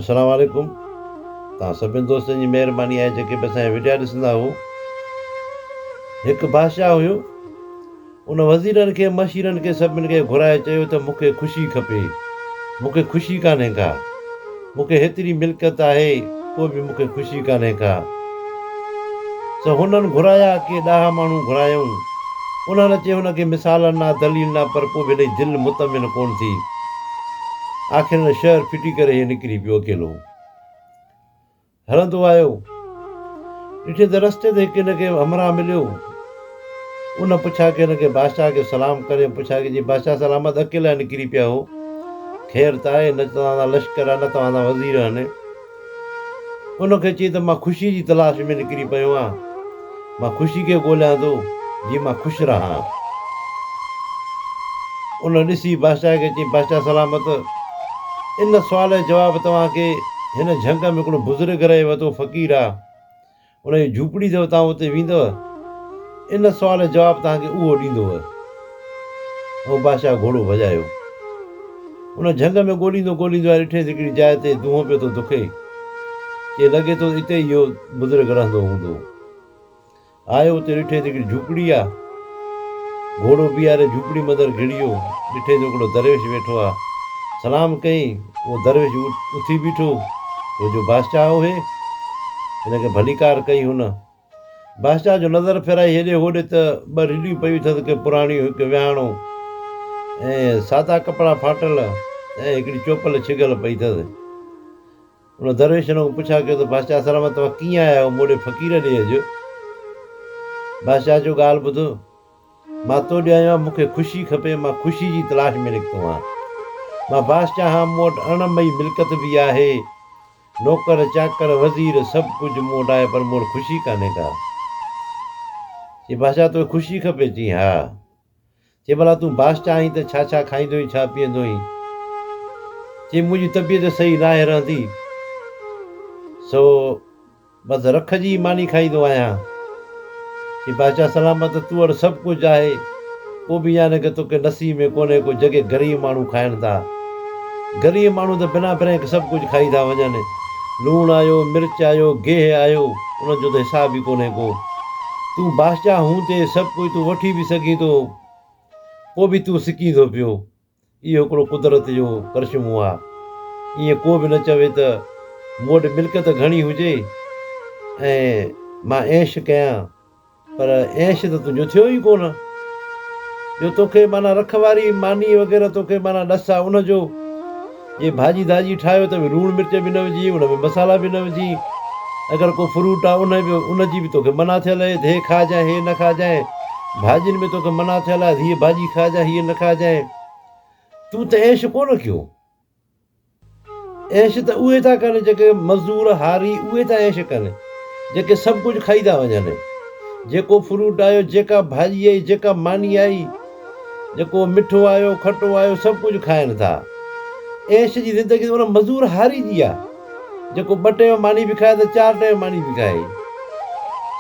السلام عليڪم توهان سڀني دوستن جي مهرباني آهي جيڪي به اسان جا وڊيا ڏسندا هئو هڪ بادشاهه هيو ان وزيرن کي مشيرن کي سڀني کي گهرائي چيو ته مون کي خوشي کپي مون کي خوشي ڪانهي ڪا مون کي هيتري ملڪيت آهي پوء به مون کي خوشي ڪانهي ڪا سو هنن گهرايا ڪي ڏاها ماڻهو گهرايائون انهن چي هن کي مثالن نه دليل نه پر پوء به هن جي دل مطمئن ڪونه ٿي آخر ان شهر ڦٽي ڪري هي نڪري پيو اڪيلو هلندو آيو ڏٺي ته رستي تي هڪ هن کي همراهه مليو ان پڇا کي هن کي بادشاهه کي سلام ڪري پڇا کي جي بادشاهه سلامت اڪيلا نڪري پيا هو خير ته آهي نه توهان سان لشڪر آهي نه توهان سان وزير آهن ان کي چئي ته مان خوشيء جي تلاش ۾ نڪري پيو آهيان. مان خوشي کي ڳوليان ٿو، جيئن مان خوش رهان. ان ڏسي بادشاهه کي چيائين، بادشاهه سلامت! ان سوال جو جواب توهان کي هن جهنگ ۾ هڪڙو بزرگ رهي وتو فقير آهي. ان جي جهوپڙي اٿو توهان اتي ويندؤ؟ ان سوال جو جواب توهان کي اهو ڏيندو. ۽ بادشاهه گهوڙو ڀڄايو. ان جهنگ ۾ ڳوليندو ڳوليندو آيو ڏٺيس هڪڙي جاء تي دونهون پيو ٿو دکي. چي لڳي ٿو اتي ئي اهو بزرگ رهندو هوندو. آيو اتي ڏٺيس هڪڙي جهوپڙي آ. گهوڙو بيهاري جهوپڙي مدر گهڙيو، ڏٺئين جو هڪڙو درويش ويٺو آ. سلام ڪيئين، اهو درويش اٿي بيٺو، ڇو جو بادشاهه اهي هن کي ڀليڪار ڪئي هن. بادشاهه جو نظر ڦيرائي هيڏي هوڏي ته ٻه رڍيون پيون اٿس ڪي پراڻيون هڪ ويهاڻو ۽ سادا ڪپڙا ڦاٽل ۽ هڪڙي چوپل ڇڳل پئي اٿس. ان درويش هن کان پڇا ڪيو ته بادشاهه سلامت توهان ڪيئن آيا آهيو مون ڏي فقير ڏي اڄ بادشاهه چيو ڳالهه ٻڌ مان تو ڏي آيو آهيان مون کي خوشي کپي مان خوشي جي تلاش ۾ نڪتو آهيان مان بادشاهه آهيان مون وٽ ارڙهن مئي ملڪت به آهي نوڪر چاڪر وزير سڀ ڪجهه مون وٽ آهي پر مون وٽ خوشي ڪانهي ڪا چي بادشاهه توکي خوشي کپي چي ها چي ڀلا تون بادشاهه آهين ته ڇا ڇا کائيندو ۽ ڇا پيئندو آهين؟ چي منهنجي طبيعت صحيح ناهي رهندي سو بس رک جي ئي ماني کائيندو آهيان. چي بادشاهه سلامت تو وٽ سڀ ڪجهه آهي پوء به يانڪ توکي نصيب ۾ ڪونهي ڪو جڳي غريب ماڻهو کائن ٿا. غريب ماڻهو ته بنا بريڪ سڀ ڪجهه کائي ٿا وڃن. لوڻ آيو، مرچ آيو، گيهه آيو، ان جو ته حساب ئي ڪونهي ڪو. تون باشجاهه هون تي سڀ ڪجهه تون وٺي به سگهين ٿو، پوء به تون سڪين ٿو پيو. اهو هڪڙو قدرت جو ڪرشمو آ. ائين ڪو به نه چوي ته مون وٽ ملڪيت گهڻي هجي ۽ مان عيش ڪيان. پر عيش ته تنهنجو ٿيو ئي ڪونه، جو توکي معنيٰ رک واري ماني وغيره توکي معنيٰ ڏس آ ان جو، جي ڀاڄي ڌاڄي ٺاهيو ته به لوڻ مرچ به نه وجهين، ان ۾ مصالحا به نه وجهين، اگر ڪو فروٽ آ ان به ان جي به توکي منع ٿيل اهي ته هي کائجانء هي نه کائجانء، ڀاڄين ۾ توکي منع ٿيل آ ته هيء ڀاڄي کائجانء هيء نه کائجانء، تون ته عيش ڪونه ڪيو. عيش ته اهي ٿا ڪن جيڪي مزدور، هاري، اهي ٿا عيش ڪن جيڪي سڀ ڪجهه کائي ٿا وڃن. جيڪو فروٽ آيو، جيڪا ڀاڄي آئي، جيڪا ماني آئي، جيڪو مٺو آيو، کٽو آيو، سڀ ڪجهه کائن ٿا. عيش جي زندگي ته ان مزدور، هاري، جي آ. جيڪو ٻه ٽيون ماني به کائي ته چار ٽيون ماني به کائي.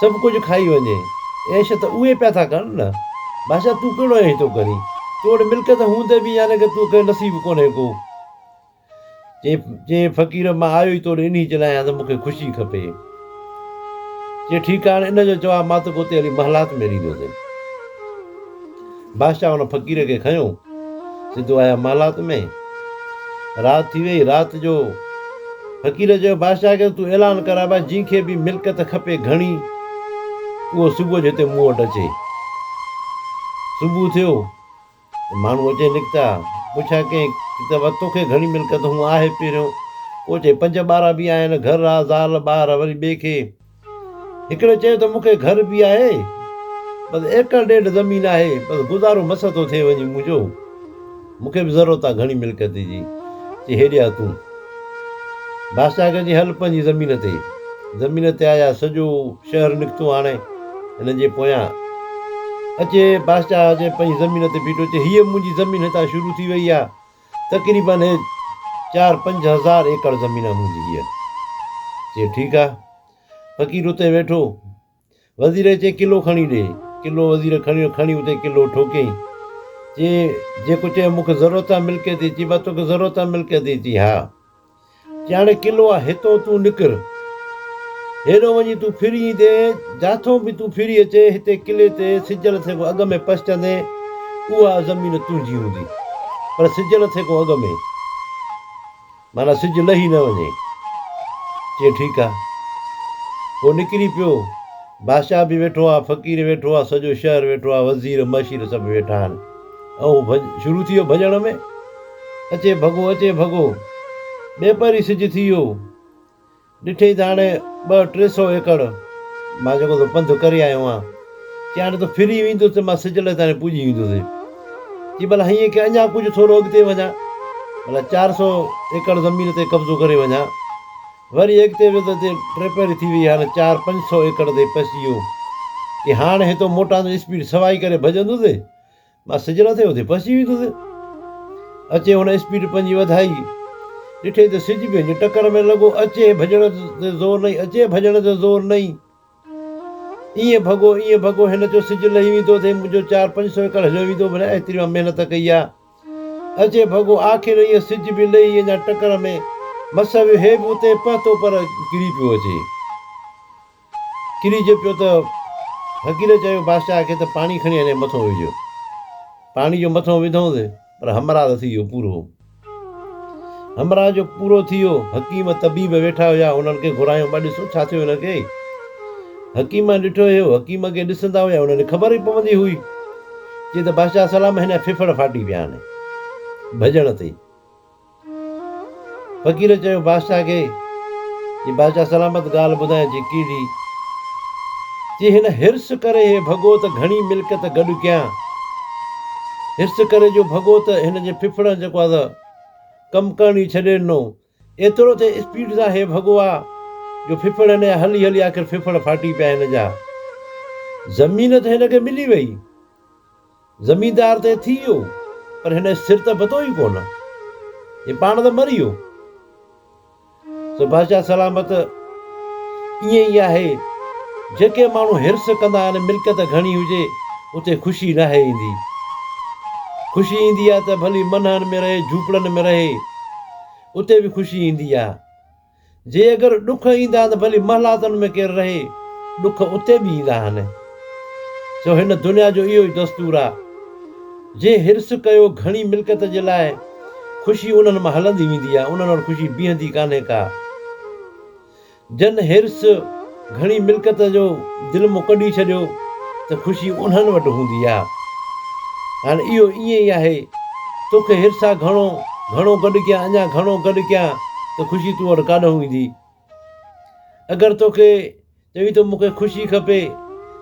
سڀ ڪجهه کائي وڃي. عيش ته اهي پيا ٿا ڪن نه. بادشاهه تون ڪهڙو عيش ٿو ڪرين. تو وٽ ملڪيت هوندي به يعني ڪه توکي نصيب ڪونهي ڪو. چيائين چيائين فقير مان آيو ئي توڙي انهي جي لاء آهيان ته مون کي خوشي کپي. چيائين ٺيڪ آهي هاڻي ان جو جواب مان توکي اتي هلي محلات ۾ ڏيندوسين. بادشاهه ان فقير کي کنيو، سڌو آيا محلات ۾، رات ٿي ويئي، رات جو فقير چيو بادشاهه کي ته تون اعلان ڪر ابا جنهن کي به ملڪت کپي گهڻي اهو صبح جو هتي مون وٽ اچي، صبح ٿيو ته ماڻهو اچي نڪتا، پڇا ڪئين ته ابا توکي گهڻي ملڪت هون آهي پهريون، ڪو چئي پنج ٻارا به آهن، گهر آ، زال، ٻار وري ٻئي کي. هڪڙي چيو ته مون کي گهر به آهي، بس ايڪڙ ڏيڍ زمين آهي، بس گذارو مس ٿو ٿئي وڃي منهنجو، مون کي به ضرورت آهي گهڻي ملڪيت جي. چي هيڏي آ تون. بادشاهه کي چي هل پنهنجي زمين تي. زمين تي آيا، سڄو شهر نڪتو هاڻي هنن جي پويان. اچي بادشاهه جي پنهنجي زمين تي بيٺو، چي هيء منهنجي زمين هتان شروع ٿي وئي آ، تقريباً هي چار پنج هزار ايڪڙ زمين آ منهنجي هيء. چي ٺيڪ آ. فقير اتي ويٺو. وزير کي چي ڪلو کڻي ڏي. ڪلو وزير کڻيو کڻي اتي ڪلو ٺوڪيائين. چي جيڪو چيو مون کي ضرورت آ ملڪيت جي. چي با توکي ضرورت آ ملڪيت جي. چي ها. جياڻي قلعو آ هتئون تون نڪر. هيڏو وڃي تون ڦري ايندين، جاٿئون به تون ڦري اچين، هتي قلعي تي سج لٿي کان اڳ ۾ پهچندين، اها زمين تنهنجي هوندي. پر سج لٿي کان اڳ ۾. معنيٰ سج لهي نه وڃي. چيائين ٺيڪ آ. هو نڪري پيو. بادشاهه به ويٺو آ، فقير ويٺو آ، سڄو شهر ويٺو آ، وزير مشير سڀ ويٺا آهن. ۽ هو شروع ٿي ويو ڀڄڻ ۾. اچي ڀڳو اچي ڀڳو، ٻيپهر ئي سج ٿي ويو. ڏٺئي ته هاڻي ٻه ٽي سؤ ايڪڙ مان جيڪو تو پنڌ ڪري آيو آهيان، چي هاڻي تون ڦري وينديس ته مان سج لهي تائين پڄي ويندوسين. چي ڀلا هيئن ڪيان اڃا ڪجهه ٿورو اڳتي وڃان، ڀلا چار سؤ ايڪڙ زمين تي قبضو ڪري وڃان. وري اڳتي ويو ته اتي ٽيپهري ٿي ويئي، هاڻي چار پنج سؤ ايڪڙ تي پهچي ويو. چي هاڻي هتو موٽان ته اسپيڊ سوائي ڪري ڀڄندوسين. مان سجھل اٿئي اٿئي پسجي ويندس. اچي هن اسپيڊ پنهنجي وڌائي. ڏٺئي ته سج پنهنجي ٽڪر ۾ لڳو. اچي ڀڄڻ تي زور نئي اچي ڀڄڻ تي زور نئي. ائين ڀڳو ائين ڀڳو هن چيو سج لهي ويندو اٿئي منهنجو چار پنج سو ايڪڙ هليو ويندو منهن ايتري مان محنت ڪئي آ. اچي ڀڳو آخر ائين سج به لهي اڃا ٽڪر ۾ مس ويو هي به اتئي پهتو پر ڪري پيو اچي. ڪريج پيو ته فقير چيو بادشاهه کي ته پاڻي کڻي هنجي مٿو وجهه. پاڻي جو مٿو وڌئونس پر همراز ٿي ويو پورو. همراز جو پورو ٿي ويو. حڪيم طبيب ويٺا هيا هنن کي گهرايو ٻه ڏسو ڇا ٿيو هن کي. حڪيمن ڏٺو هيو حڪيم اڳي ڏسندا هيا هنن کي خبر ئي پوندي هئي. چي ته بادشاهه سلام هن جا ڦڦڙ ڦاٽي پيا آهن ڀڄڻ تي. فقير چيو بادشاهه کي جي بادشاهه سلامت ڳالهه ٻڌائي جي ڪيڙهي؟ چي هن حرص ڪري هي ڀڳو ته گهڻي ملڪيت گڏ ڪيان حرص ڪري جو ڀڳو ته هن جي ڦڦڙن جيڪو آ ته ڪم ڪرڻ ئي ڇڏي ڏنو ايترو ته اسپيڊ سان هي ڀڳو آ جو ڦڦڙ هن جا هلي هلي آخر ڦڦڙ ڦاٽي پيا هن جا زمين ته هن کي ملي وئي زميندار ته ٿي ويو پر هن جو سر ته ٻڌو ئي ڪونه. هي پاڻ ته مري ويو. سو بادشاهه سلامت ائين ئي آهي. جيڪي ماڻهو حرص ڪندا آهن ملڪيت گهڻي هجي اتي خوشي ناهي ايندي. خوشي ايندي آهي ته ڀلي منهن ۾ رهي جهوپڙن ۾ رهي اتي به خوشي ايندي آهي. جي اگر ڏک ايندا آهن ته ڀلي محلاتن ۾ ڪير رهي، ڏک اتي به ايندا آهن. سو هن دنيا جو اهو ئي دستور آ. جنهن حرص ڪيو گهڻي ملڪيت جي لاء، خوشي انهن مان هلندي ويندي آ، انهن وٽ خوشي بيهندي ڪانهي ڪا. جن حرص. گهڻي ملڪت جو دل مون ڪڍي ڇڏيو ته خوشي انهن وٽ هوندي آ. هاڻ اهو ائين ئي آهي. توکي حرص آ گهڻو گهڻو گڏ ڪيان اڃا گهڻو گڏ ڪيان ته خوشي تون وٽ ڪاڏهون ايندي. اگر توکي چوي ٿو مون کي خوشي کپي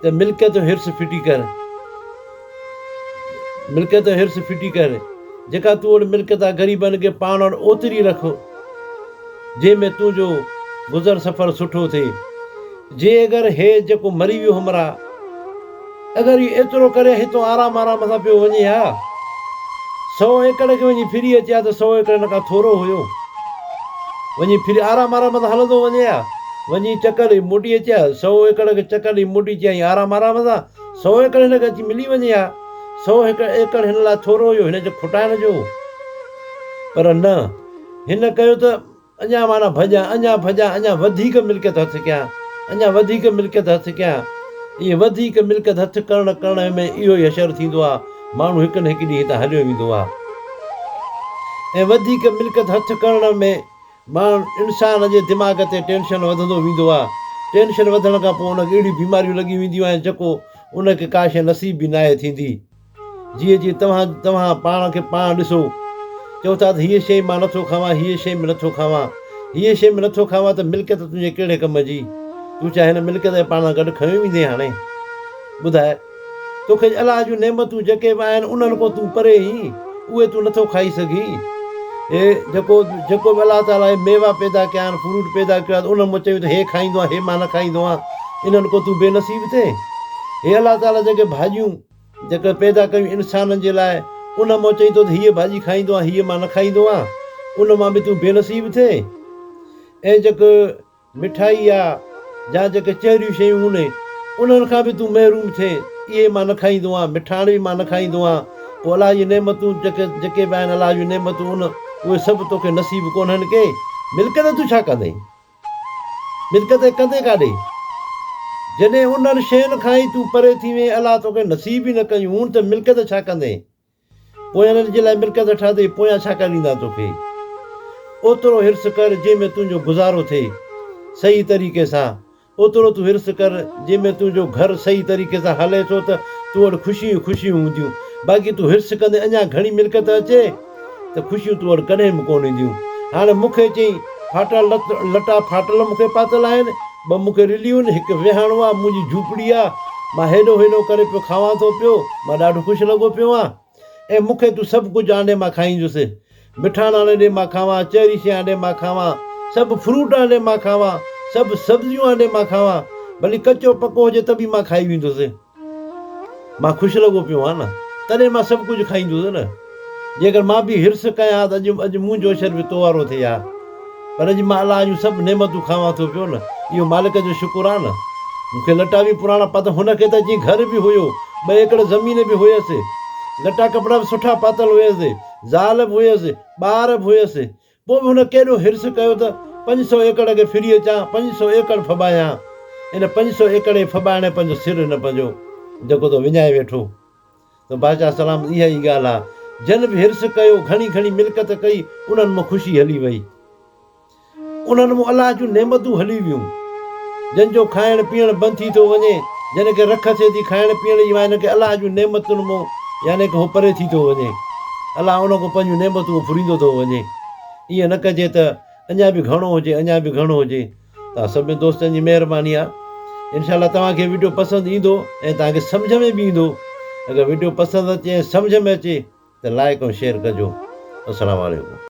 ته ملڪيت جو حرص ڦٽي ڪر. ملڪيت حرص ڦٽي ڪر، جيڪا تون وٽ ملڪيت آ غريبن کي پاڻ وٽ اوتري رک، جنهن ۾ تنهنجو گذر سفر سٺو ٿئي. جي اگر هي جيڪو مري ويو همراهه، اگر اهو ايترو ڪري هتان آرام آرام سان پيو وڃي ها، سؤ ايڪڙ کي وڃي ڦري اچي ها ته سؤ ايڪڙ هن کان ٿورو هيو، وڃي ڦري آرام آرام سان هلندو وڃي ها، وڃي چڪر ڏئي موٽي اچي ها، سؤ ايڪڙ کي چڪر ڏئي موٽي اچي ها ائين آرام آرام سان. سؤ ايڪڙ هن کي اچي ملي وڃي ها. سؤ ايڪڙ هن لاء ٿورو هيو، هن چيو کوٽائڻ جو هو. پر نه، هن ڪيو ته اڃا معنيٰ ڀڄان، اڃا ڀڄان، اڃا وڌيڪ ملڪيت هٿ ڪيان، اڃا وڌيڪ ملڪيت هٿ ڪيان. ائين وڌيڪ ملڪيت هٿ ڪرڻ ڪرڻ ۾ اهو ئي حشر ٿيندو آ، ماڻهو هڪ نه هڪ ڏينهن هتان هليو ويندو آ. ۽ وڌيڪ ملڪيت هٿ ڪرڻ ۾ ماڻهن، انسان، جي دماغ تي ٽينشن وڌندو ويندو آهي. ٽينشن وڌڻ کان پوء ان کي اهڙيون بيماريون لڳي وينديون آهن جيڪو ان کي ڪا شيء نصيب به ناهي ٿيندي. جيئن جيئن توهان توهان پاڻ کي پاڻ ڏسو. چئو ٿا ته هيء شيء مان نٿو کاوان، هيء شيء ۾ نٿو کاوان. هيء شيء ۾ نٿو کاوان ته ملڪيت تنهنجي ڪهڙي ڪم جي؟ تون ڇا هن ملڪيت کي پاڻ سان گڏ کنيو ويندين هاڻي؟ ٻڌاء. توکي الله جون نعمتون جيڪي به آهن انهن کان تون پري هين، اهي تون نٿو کائي سگهين. هي جيڪو جيڪو به الله تعاليٰ هي ميوا پيدا ڪيا آهن، فروٽ پيدا ڪيو آهي ته انهن مان چوين ته هي کائيندو آهيان هي مان نه کائيندو آهيان، انهن کان تون بي نصيب ٿين. هي الله تعاليٰ جيڪي ڀاڄيون جيڪي پيدا ڪيون انسانن جي لاء انهن مان چوين ٿو ته هيء ڀاڄي کائيندو آهيان هيء مان نه کائيندو آهيان، ان مان به تون بي نصيب ٿين. ۽ جيڪو مٺائي يا جا جيڪي چهريون شيون هونئي انهن کان به تون محروم ٿئين، اهي مان نه کائيندو آهيان، مٺاڻ به مان نه کائيندو آهيان، پوء الله جي نعمتون جيڪي جيڪي به آهن الله جون نعمتون ان اهي سڀ توکي نصيب ڪونهن ڪي، ملڪيت تون ڇا ڪندين؟ ملڪيت ۽ ڪندين ڪاڏي؟ جڏهن انهن شين کان ئي تون پري ٿي وئين، الله توکي نصيب ئي نه ڪيون هون ته ملڪيت ڇا ڪندين؟ پوء انهن جي لاء ملڪيت نه ٺهندي، پويان ڇا ڪري ڏيندا توکي؟ اوترو حرص ڪر، جنهن ۾ تنهنجو گذارو ٿئي صحيح طريقي سان، اوترو تون حرص ڪر، جنهن ۾ تنهنجو گهر صحيح طريقي سان هلي ٿو ته تو وٽ خوشيون ئي خوشيون هونديون، باقي تون حرص ڪندين اڃا گهڻي ملڪيت اچي ته خوشيون تو وٽ ڪڏهن به ڪونه اينديون. هاڻ مون کي چئين، ڦاٽا لٽا ڦاٽل مون کي پاتل آهن، ٻه مون کي رليون، هڪ ويهاڻو آ، منهنجي جهوپڙي آ، مان هيڏو هيڏو ڪري پيو کاوان ٿو پيو، مان ڏاڍو خوش لڳو پيو آهيان ۽ مون کي تون سڀ ڪجهه آنڊي مان کائينجس، مٺاڻ آڻي ڏي مان کاوان، چهري شي آنڊي مان کاوان، سڀ فروٽ آنڊي مان کاوان، سڀ سبزيون آنڊي مان کاوان، ڀلي ڪچو پڪو هجي ته به مان کائي ويندس. مان خوش لڳو پيو هئان نه، تڏهن مان سڀ ڪجهه کائيندوس نه. جيڪر مان به حرص ڪيان ها ته اڄ اڄ منهنجو عشر به تو وارو ٿئي ها. پر اڄ مان الله جون سڀ نعمتون کاوان ٿو پيو نه، اهو مالڪ جو شڪر آ نه. مون کي لٽا به پراڻا پاتل هن کي ته اچي گهر به هيو، ٻه ايڪڙ زمين به هيس. لٽا ڪپڙا به سٺا پاتل هيس. زال به هيس، ٻار به هيس. پوء به هن ڪيڏو حرص ڪيو ته پنج سؤ ايڪڙ کي ڦري اچان، پنج سؤ ايڪڙ ڦٻايان. ان پنج سؤ ايڪڙ کي ڦٻائڻ پنهنجو سر هن پنهنجو جيڪو تو وڃائي ويٺو ته بادشاهه سلامت اها ئي ڳالهه آ. جن به حرص ڪيو، گهڻي گهڻي ملڪت ڪئي، انهن مان خوشي هلي وئي. انهن مان الله جون نعمتون هلي ويون. جن جو کائڻ پيئڻ بند ٿي ٿو وڃي، جن کي رک اچي ٿي کائڻ پيئڻ جي، مان انهن کي الله جون نعمتن مون يعني ڪه هو پري ٿي ٿو وڃي، الله انهن کان پنهنجون نعمتون هو ڦريندو ٿو وڃي. ائين نه ڪجي ته اڃا به گهڻو هجي، اڃا به گهڻو هجي. توهان سڀني دوستن جي مهرباني آهي. انشاء الله توهان کي وڊيو پسند ايندو ۽ توهان کي سمجهه ۾ به ايندو. اگر وڊيو پسند اچي ۽ سمجهه ۾ اچي ته لائيڪ ۽ شيئر ڪجو. السلام عليڪم.